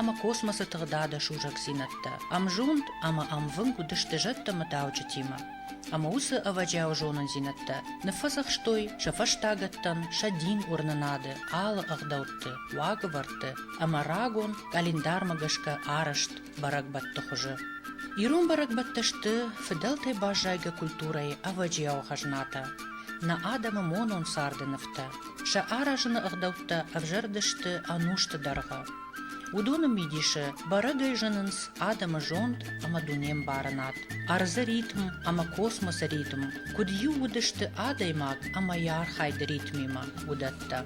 ӕмӕ космосы тыгъдады сусӕгдзинӕдтӕ. Ӕмзонд ӕмӕ ӕмвынг уыдысты зӕдтӕ-мытауджытимӕ, ӕмӕ уыцы ӕвӕджиауы зонындзинӕдтӕ ныффӕдзӕхстой сӕ фӕстагӕттӕн сӕ дин уырнынады алы ӕгъдӕутты, уагӕвӕрдты ӕмӕ рагон къӕлиндармӕ гӕсгӕ арӕзт бӕрӕгбӕтты хуызы. Ирон бӕрӕгбӕттӕ сты фыдӕлтӕй баззайгӕ культурӕйы ӕвӕджиауы хӕзнатӕ, нӕ адӕмы монон царды нывтӕ, Сӕ аразыны ӕгъдӕуттӕ ӕвзӕрдысты ӕнусты дӕргъы. Уыдоны мидисы бӕрӕгӕй зынынц адӕмы зонд ӕмӕ дунембарынад, ӕрдзы ритм ӕмӕ космосы ритм, куыд иу уыдысты адӕймаг ӕмӕ йӕ архайды ритмимӕ, уыдӕттӕ.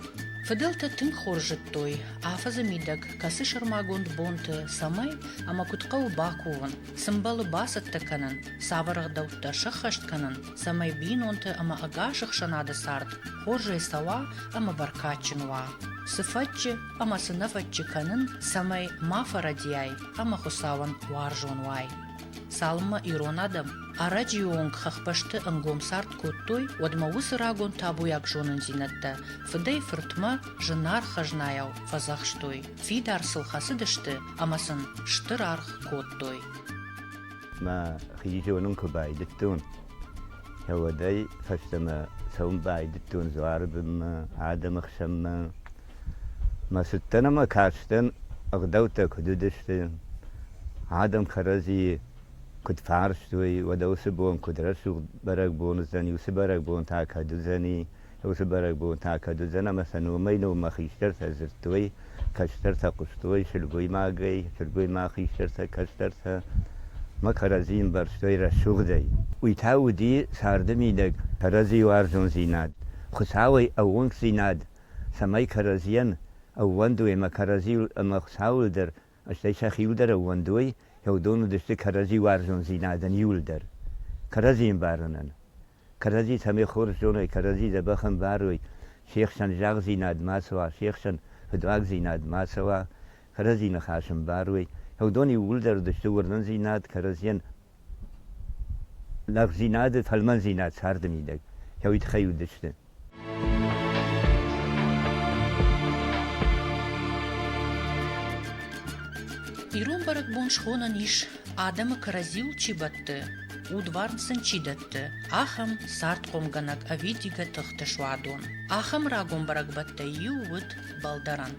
Фыдӕлтӕ тынг хорз зыдтой, афӕдзы мидӕг кӕцы сӕрмагонд бонты цӕмӕй ӕмӕ куыд хъӕуы бакувын, Цы мбӕлы бацӕттӕ кӕнын, цавӕр ӕгъдӕуттӕ сӕххӕст кӕнын, цӕмӕй бинонты ӕмӕ ӕгас ӕхсӕнады цард хорзӕй цӕуа ӕмӕ бӕркадджын уа? Цы фӕтчы ӕмӕ цы нӕ фӕтчы кӕнын, цӕмӕй ма фӕрӕдийай ӕмӕ Хуыцауӕн уарзон уай? Цалынмӕ ирон адӕм ӕрӕджыйы онг хӕхбӕсты ӕнгом цард кодтой, уӕдмӕ уыцы рагон табуйаг зонындзинӕдтӕ фыдӕй-фыртмӕ, зынаргъ хӕзнайау фӕдзӕхстой, фидар сыл хӕцыдысты ӕмӕ сын стыр аргъ кодтой. Мӕ хи зонын куы байдыдтон, уӕдӕй фӕстӕмӕ цӕуын байдыдтон дзуары бынмӕ, адӕмы хсӕнмӕ. Мӕ цыдтӕн ӕмӕ кастӕн, ӕгъдӕуттӕ куыд уыдысты, адӕм кӕрӕдзийы куыд фарстой, уӕдӕ уыцы бон куыд рӕсугъд бӕрӕгбон уыдзӕни, уыцы бӕрӕгбон та кӕд уыдзӕни, уыцы бӕрӕгбон та кӕд уыдзӕн ӕмӕ сӕ номӕй-номмӕ хистӕртӕ дзырдтой, кӕстӕртӕ хъуыстой сылгоймагӕй, сылгоймаг хистӕртӕ кӕстӕртӕ ма кӕрӕдзийы ӕмбӕрстой рӕсугъдӕй. Уый та уыди царды мидӕг кӕрӕдзийы уарзондзинад, Хуыцауӕй ӕууӕнкдзинад, цӕмӕй кӕрӕдзийӕн ӕууӕндой ӕмӕ кӕрӕдзийыл ӕмӕ Хуыцауыл дӕр, стӕй сӕхиуыл дӕр ӕууӕндой, кӕуыдон уыдысты кӕрӕдзи уарзондзинадӕн иуыл дӕр кӕрӕдзийы ӕмбарынӕн. кӕрӕдзи цӕмӕй хорз зонай, кӕрӕдзи дзӕбӕх ӕмбарой, се хсӕн загъдзинад ма цӕуа, се хсӕн фыдуагдзинад ма цӕуа, кӕрӕдзи ныхас ӕмбарой. Уыдон иууылдӕр уыдысты уырнындзинад, кӕрӕдзийӕн лӕгдзинады, фӕлмӕндзинад царды мидӕг. Уый тыххӕй уыдысты. Ирон бӕрӕгбон схонӕн ис адӕмы кӕрӕдзиуыл чи бӕтты, удварн сын чи дӕтты, ахӕм цардхъомгӕнӕг ӕвидигӕ тыхты суадон. Ахӕм рагон бӕрӕгбӕттӕй иу уыд балдӕрӕн.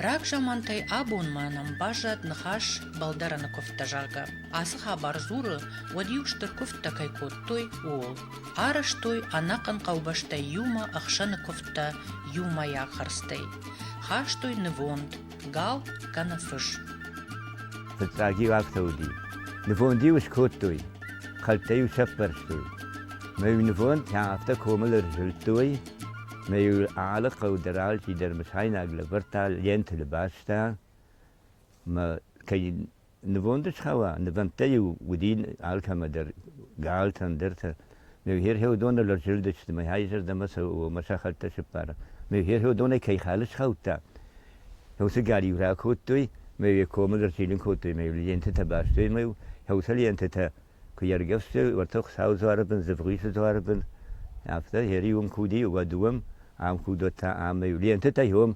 Рагзамантӕй абонмӕ нӕм баззад ныхас балдӕрӕны куывдтӕ, зӕгъгӕ. Ацы хабар дзуры, уӕд-иу стыр куывдтӕ кӕй кодтой, ууыл. Арӕзтой ӕнӕхъӕн хъӕубӕстӕй иумӕ ӕхсӕны куывдтӕ иумӕйаг хӕрдзтӕй, хастой нывонд, гал кӕнӕ фыз. Фыццаг-иу афтӕ уыди, нывонд-иу скодтой, хӕлттӕ-иу сӕппӕрстой. Мӕ-иу нывондтӕ афтӕ комыл ӕрзылдтой, мӕ-иу алы хъӕу дӕр алчидӕр мысайнаг лӕвӕрдта лентыл баста, мӕ кӕй Нывонды схауа, нывӕндтӕ-иу уыди алкӕмӕ дӕр, галтӕн дӕртӕ. Ме хӕрхӕдоны лӕрзылдысты, мӕ хайзӕрдӕмӕ сӕ хӕлттӕ сыппара. Ме хӕрхӕдонӕй кӕй хал схаудта, уыцы гал-иу ракодтой, мӕ йӕ комыл ӕрчилын кодтой, мӕ лентӕтӕ бастой, мӕ хӕусы лентӕтӕ куы ӕргӕвстой, уӕд та Хуыцауы дзуары бын, Дзывгъисы дзуары бын, афтӕ, йӕри уым куы уыди, уӕд уым, ам куы уыд, уӕд та ам, лентӕтӕ уым,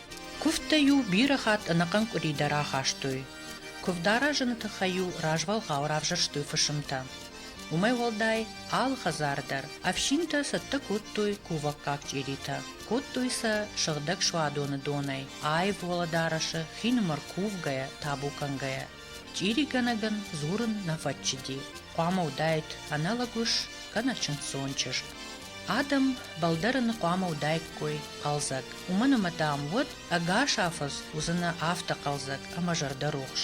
Куывдтӕ-иу бирӕ хатт ӕнӕхъӕн къуыри дӕр ахастой. Куывд аразыны тыххӕй-иу развӕлгъау равзӕрстой фысымтӕ. Уымӕй уӕлдай, алы хӕдзары дӕр ӕфсинтӕ цӕттӕ кодтой кувӕггаг чъиритӕ. Кодтой сӕ сыгъдӕг суадоны донӕй, аив уӕлӕдарӕсы, хины мӕр кувгӕйӕ, табу кӕнгӕйӕ. Чъиригӕнӕгӕн дзурын нӕ фӕччыди, хъуамӕ уыдаид аналог ус кӕнӕ чындздзон чызг. Адӕм бӕлдӕрыны хъуамӕ уыдаиккой хъӕлдзӕг, уымӕн ӕмӕ, дам, уӕд ӕгас афӕдз уыдзынӕ афтӕ хъӕлдзӕг ӕмӕ зӕрдӕрухс.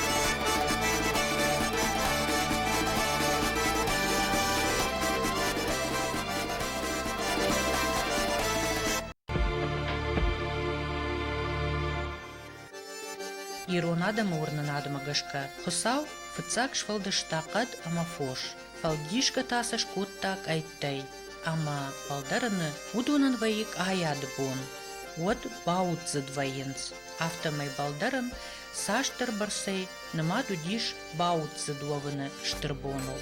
Ирон адӕмы уырнынадмӕ гӕсгӕ Хуыцау фыццаг сфӕлдыста хъӕд ӕмӕ фос, фӕлдисгӕ та сӕ скодта къӕйттӕй. Ӕмӕ фалдӕрыны уыдонӕн вӕййы къайады бон. Уӕд бауддзыд вӕййынц, афтӕмӕй балдӕрын Цасдӕрбӕрцӕй нымад уыдис бауццыд уӕвыны стыр боныл.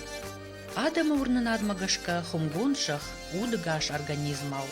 Адӕмы уырнынадмӕ гӕсгӕ хуымгонд зӕхх удыгас организмау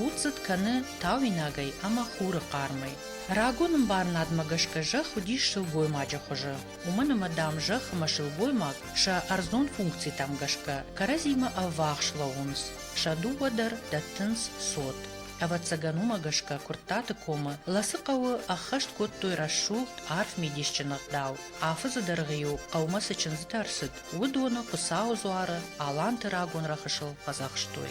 уддзыд кӕны тауинагӕй ӕмӕ хуры хъармӕй. Рагон ӕмбарынадмӕ гӕсгӕ зӕхх уыдис сылгоймаджы хуызы, уымӕн ӕмӕ, дам, зӕхх ӕмӕ сылгоймаг сӕ ӕрдзон функцитӕм гӕсгӕ кӕрӕдзимӕ ӕввахс лӕууынц, сӕ дыууӕ дӕр дӕттынц цот. Ӕвӕццӕгӕн уымӕ гӕсгӕ Куырттаты комы Ласы хъӕуы ӕххӕст кодтой рӕсугъд, арф мидисджын ӕгъдау. Афыдзы дӕргъы-иу хъӕумӕ цы чындзытӕ рцыд, уыдоны Хуыцауы дзуары Аланты рагон рӕхысыл фӕдзӕхстой.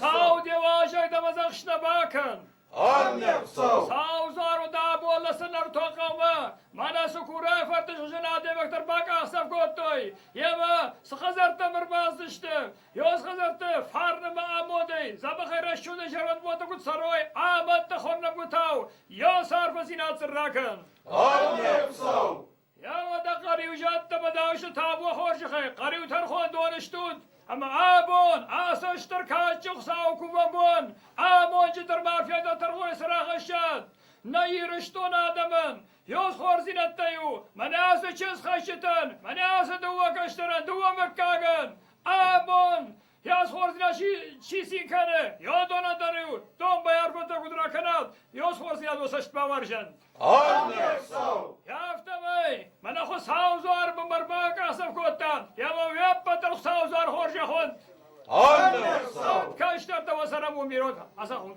Сау девазӕй дӕвӕзӕхстӕ бакӕн! Саузаро да болла сӕнӕртуа хъӕумӕ! Мӕнӕ Сукурайы фырты зынадевӕгтӕ бакъахдзӕф кодтой! Йемӕ цы хӕдзӕрттӕм ӕрбацыдысты? Ёз хӕдзӕртты фарнымӕ амодӕй, дзӕбӕхӕй рӕсугъдӕй зӕронд боты куыд цӕрой, ӕмӕ дӕ хорнӕггуытау, ёс арфӕдзинад сын ракӕн! Йауӕдӕ Хъӕриу зӕдтӕмӕ даусы табу хорзӕхӕй Хъӕриу тӕрхондоны стут, ӕмӕ абон, ацы стыр кадджын Хуыцауы кувӕн бон, амонджы дӕр ма феда тӕрхой срӕхӕссӕд нӕ Ирыстон адӕмӕн. Ёсхордзинӕдтӕй у мӕнӕ ацы чындзхӕсджытӕн, мӕнӕ ацы дыууӕ кӕстӕрӕн, дыууӕ мыггагӕн, амон Йосхордзиа чи цин кӕны, Йодона дӕр иу домбай ӕргуытӕ куыд ракӕнат, Йосхордзиадо цӕст бавӕрзӕн. Ӕрнӕсау! Афтӕмӕй, мӕнӕ Хуыцауы дзуары бынмӕ ӕрбакъахдзӕф кодтам, ӕмӕ уе ппӕт Хуыцауы дзуар хорзӕхон! Ӕрнӕсау! Кӕстӕртӕ уӕ цӕрӕнбон бирот, ацахун!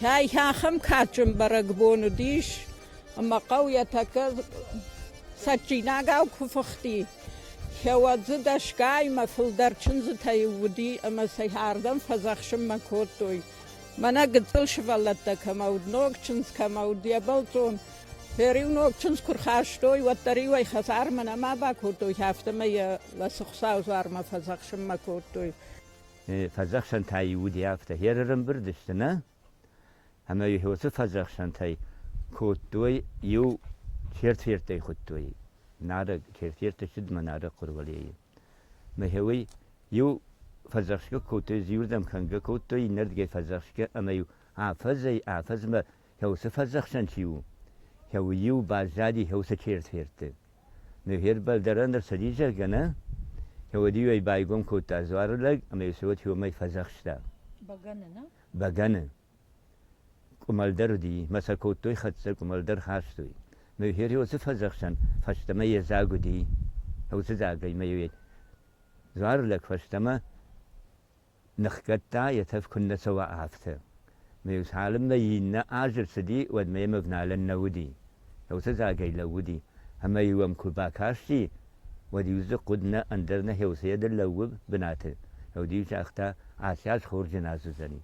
Кӕй ахӕм кадджын бӕрӕгбон уыдис, ӕмӕ хъӕу йӕ тӕккӕ цӕджджинагау куы фыхти, кӕуӕд дзы дӕсгаймӕ фылдӕр чындзытӕй уыди ӕмӕ сӕ ардӕм фӕдзӕхсынмӕ кодтой. Мӕнӕ гыццыл сывӕллӕттӕ кӕмӕ уыд, ног чындз кӕмӕ уыд, йӕ бӕлццон. Фӕр-иу ног чындз куы рхастой, уӕддӕр-иу ӕй хӕдзармӕ нӕма бакодтой, афтӕмӕй йӕ Ласы Хуыцауы дзуармӕ фӕдзӕхсынмӕ кодтой. фӕдзӕхсӕнтӕ-иу уыди афтӕ херӕрӕмбырд сты, нӕ? Ӕмӕ-иу уыцы фӕдзӕхсӕнтӕй кодтой, иу чертфертӕй хуыдтой. Нарӕг чертферты ссыдмӕ нарӕг хъуырвӕлейы. Мӕхеуый иу фӕдзӕхсгӕ кодтой, иуырдӕм кӕнгӕ кодтой, иннӕрдгӕй фӕдзӕхсгӕ, ӕмӕ-иу афӕдзӕй-афӕдзмӕ Хеусы фӕдзӕхсӕн чи у? Хеуы-иу баззади хеусы черсферты. Ныр хербӕлдарӕн ӕрцыди, зӕгъгӕ, нӕ? Хеуыд-иу ӕй байгом кодта дзуары лӕг ӕмӕ йӕ цот иумӕ фӕдзӕхста. Бӕгӕны, нӕ? Бӕгӕны. Къуымӕлдар уыди, мӕ сӕ кодтой хӕццӕ, къуымӕлдар хастой. Ныр Херосы фӕдзӕхсӕн фӕстӕмӕ йе дзаг уыди. Хеусы дзагӕй мӕ йӕ дзуары лӕг фӕстӕмӕ ныхгӕдта, йӕ тӕф куыннӕ цӕуа, афтӕ. Ме цалынмӕ иннӕ аз рцыди, уӕдмӕ йӕм ӕвналӕн нӕ уыди. Уыцы дзагӕй лӕууыди, ӕмӕ-иу ӕм куы бакасти, уӕд-иу дзы хъуыд нӕ, ӕндӕр нӕ Хеуцыйӕ дӕр лӕууы бынаты. Ӕви-иу загъта, Аци аз хорз нын ацыдзӕни.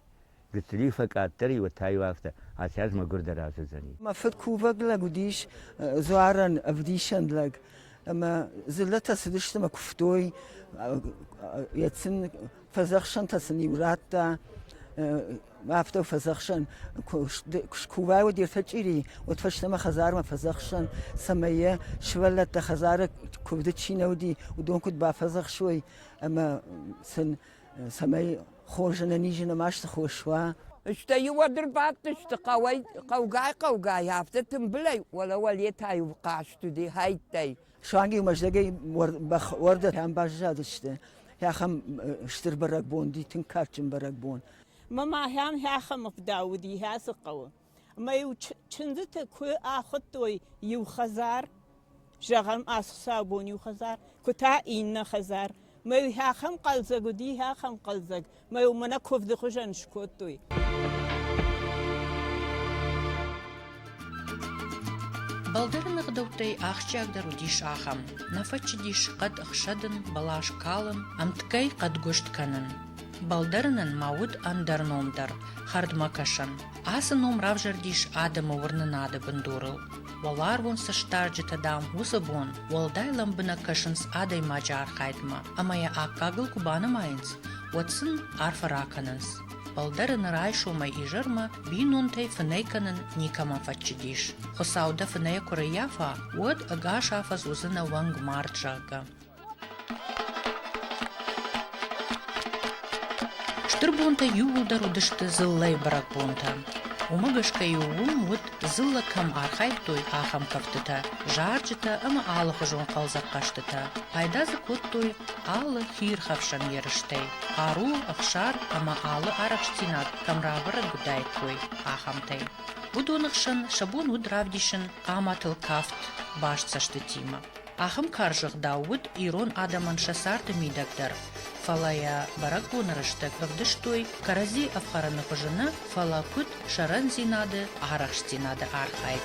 Гыццылиу фӕкъаддӕр-иу та-иу афтӕ, Асӕдз мӕгуырдӕр азыдзӕни. Мӕ фыд кувӕг лӕг уыдис дзуарӕн ӕвдисӕн лӕг, ӕмӕ дзыллӕтӕ цыдысты мӕ куывтой, йӕ сын фӕдзӕхсӕнтӕ сын-иу радта, афтӕ фӕдзӕхсӕн, куы скувай, уӕд ертӕ чъири, уӕд фӕстӕмӕ хӕдзармӕ фӕдзӕхсӕн, цӕмӕй йӕ сывӕллӕттӕ хӕдзары куывды чи нӕ уыди, уыдон куыд бафӕдзӕхсой, ӕмӕ сын цӕмӕй хорз ӕнӕниз нымӕз цы хос уа. Стӕй уӕд ӕрбадтысты хъӕуӕй хъӕугай-хъӕугай, афтӕ тымбылӕй, уӕлӕ-уӕле та-иу хъазт уыди хӕйттӕй. Суанг-иу Мӕздӕгӕй бӕх уӕрдӕтӕм баззадысты. Хӕхӕм стыр бӕрӕгбон уыди, тынг карджын бӕрӕгбон. Мамӕ хӕм хӕхӕмы фыдӕл уыди Хӕцы хъӕуы. Ӕмӕ-иу чындзыты куы ахуыдтой иу хӕдзар, зӕгъӕм, ацы саубон иу хӕдзар, куы та иннӕ хӕдзар. Мӕ-иу хи ахӕм хъӕлдзӕг уыди, хи ахӕм хъӕлдзӕг, мӕ-иу мӕнӕ куывды хуызӕн скодтой. Балдӕры ныгъдӕуттӕй ахсджиагдӕр уыдис ахӕм: нӕ фӕччыдис хъӕд ӕхсӕдын, бӕлас калын, ӕмткӕй хъӕдгуыст кӕнын. Балдӕрынӕн ма уыд ӕндӕр ном дӕр, хӕрдмӕкӕсӕн. Ацы ном равзӕрдис адӕмы уырнынады бындурыл. Уӕларвон сыстарджытӕ, дам, уыцы бон уӕлдай лӕмбынӕг кӕсынц адӕймаджы архайдмӕ ӕмӕ йӕ аккагыл куы банымайынц, уӕд сын арфӕ ракӕнынц. Фӕлдӕр ын райсомӕй изӕрмӕ бинонтӕй фынӕй кӕнын никӕмӕн фӕччыдис. Хуыцау дӕ фынӕйӕ куы рӕййафа, уӕд ӕгас афӕдз уыдзынӕ уӕнг мард, зӕгъгӕ. Стыр бонтӕ иууылдӕр уыдысты дзыллӕйы бӕрӕгбонтӕ. Уымӕ гӕсгӕ-иу уым уыд, дзыллӕ кӕм архайдтой, ахӕм кӕфтытӕ, зарджытӕ ӕмӕ алыхуызон хъӕлдзӕгхъӕзтытӕ. Пайда дзы кодтой алы хиирхӕфсӕн ерыстӕй, хъару, ӕхсар ӕмӕ алы арӕхстдзинад кӕм рабӕрӕг уыдаиккой, ахӕмтӕй. Уыдоны хсӕн сӕ бон уыд равдисын хъаматыл кафт баст цӕстытимӕ. Ахӕм карз ӕгъдау уыд ирон адӕмӕн сӕ царды мидӕг дӕр, фӕлӕ йӕ бӕрӕгбоны рӕстӕг ӕвдыстой кӕрӕдзи ӕфхӕрыны хуызы нӕ, фӕлӕ куыд сӕрӕндзинады, арӕхстдзинады архайд.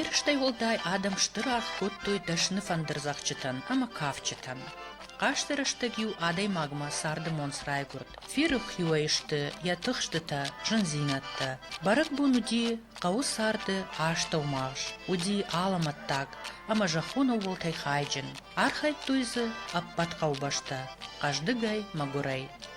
Ерыстӕй уӕлдай адӕм стыр аргъ кодтой дӕсны фӕндырдзӕгъдджытӕн ӕмӕ кафджытӕн. Хъазты рӕстӕг-иу адӕймагмӕ царды монц райгуырд. Ферры-хиуӕй сты йӕ тыхстытӕ, зындзинӕдтӕ. Бӕрӕгбон уыди хъӕуы царды астӕумагъз, уыди алӕмӕттаг ӕмӕ зӕххон ӕууӕлтӕй хайджын. Архайдтой дзы ӕппӕт хъӕубӕстӕ, хъӕздыгӕй, мӕгуырӕй.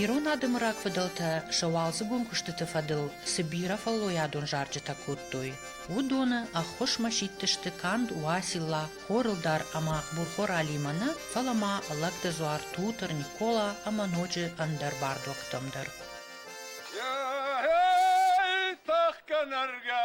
Ирон адӕмы рагфыдӕлтӕ сӕ уалдзыгон куыстыты фӕдыл цы бирӕ фӕллойадон зарджытӕ кодтой, уыдоны ӕххуысмӕ сидтысты канд Уасилла, Хорылдар ӕмӕ Бурхор Алимӕ нӕ, фӕлӕ ма Лӕгдыдзуар, Тутыр, Никола ӕмӕ ноджы ӕндӕр бардуӕгтӕм дӕр. Тӕхгӕ, нӕргӕ,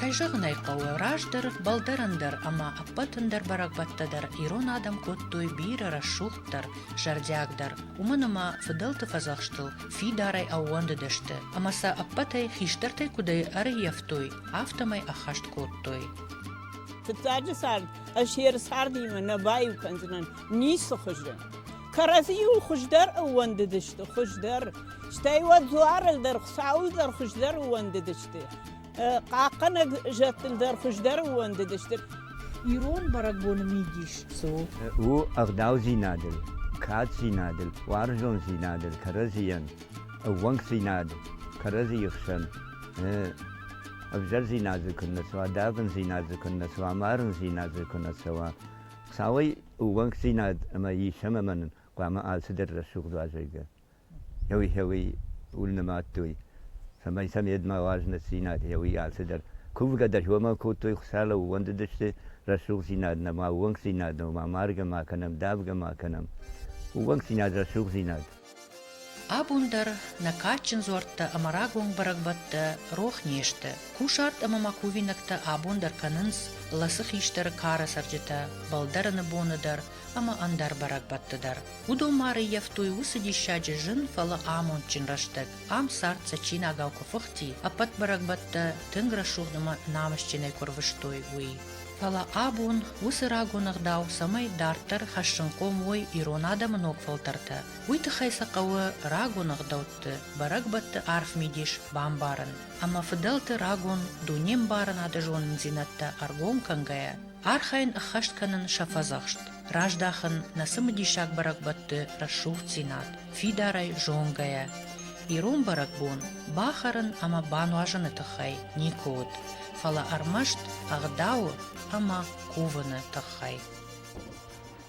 Кӕй зӕгъын ӕй хъӕуы, раздӕр фӕлдӕрӕн дӕр ӕмӕ ӕппӕт ӕндӕр бӕрӕгбӕттӕ дӕр ирон адӕм кодтой бирӕ рӕсугъддӕр, зӕрдиагдӕр, уымӕн ӕмӕ фыдӕлты фӕдзӕхстыл фидарӕй ӕууӕндыдысты ӕмӕ сӕ ӕппӕтӕй хистӕртӕй куыдӕй ӕрыййӕфтой, афтӕмӕй ӕххӕст кодтой. Фыццаджы цард ӕз йе рцардимӕ нӕ баиу кӕндзынӕн ницы хуызы. Кӕрӕдзийыл хуыздӕр ӕууӕндыдысты, хуыздӕр. Стӕй уӕд дзуарыл дӕр, Хуыцауыл дӕр хуыздӕр ӕууӕндыдысты. хъахъхъӕнӕг зӕдтыл дӕр хуыздӕр ууӕндыдысты. Ирон бӕрӕгбоны мидис цы у? У ӕгъдаудзинадыл, каддзинадыл, уарзондзинадыл кӕрӕдзийӕн ӕууӕнкдзинад, кӕрӕдзийы хсӕн ӕвзӕрдзинад дзы куыннӕ цӕуа, давындзинад дзы куыннӕ цӕуа, марындзинад дзы куыннӕ цӕуа. Цауӕй ӕууӕнкдзинад ӕмӕ ис ӕмӕ мӕнӕн хъуамӕ алцыдӕр рӕсугъд уа, зӕгъгӕ. еуи-хеуи ульнӕмадтой, цӕмӕй сӕ медмӕуал знӕтдзийнадӕ еуи алцидӕр. Кувгӕ дӕр уомӕ кодтой, Хуцау лӕууӕндудӕсти рӕсугъддзийнад нӕма, уонгдзийнад нӕма, маргӕ ма кӕнӕм, давгӕ ма кӕнӕм. Уонгдзийнад, рӕсугъддзийнад. Абон дӕр нӕ кадджын дзуӕрттӕ ӕмӕ рагон бӕрӕгбӕттӕ рох не сты. Кусарт ӕмӕ ма кувинӕгтӕ абон дӕр кӕнынц ласы хистӕры кары цӕрджытӕ, бӕлдӕрыны боны дӕр ӕмӕ ӕндӕр бӕрӕгбӕтты дӕр. Уыдон ма рыййӕфтой уыцы диссаджы зын, фӕлӕ амондджын рӕстӕг. Ам цард цӕджсинагау куы фыхти, ӕппӕт бӕрӕгбӕттӕ тынг рӕсугъд ӕмӕ намысджынӕй куы рвыстой, уый. Фӕлӕ абон уыцы рагон ӕгъдау, цӕмӕй дарддӕр хӕссынхъом уой ирон адӕмы ног фӕлтӕртӕ, уый тыххӕй сӕ хъӕуы рагон ӕгъдӕутты, бӕрӕгбӕтты арф мидис бамбарын ӕмӕ фыдӕлты рагон дунембарынады зонындзинӕдтӕ ӕргом кӕнгӕйӕ, Архайын ӕххӕст кӕнын сӕ фӕдзӕхст, раздахын нӕ цымыдисаг бӕрӕгбӕтты рӕсугъддзинад, фидарӕй зонгӕйӕ. Ирон бӕрӕгбон бахӕрын ӕмӕ бануазыны тыххӕй никуы уыд, фӕлӕ ӕрмӕст ӕгъдауы ӕмӕ кувыны тыххӕй.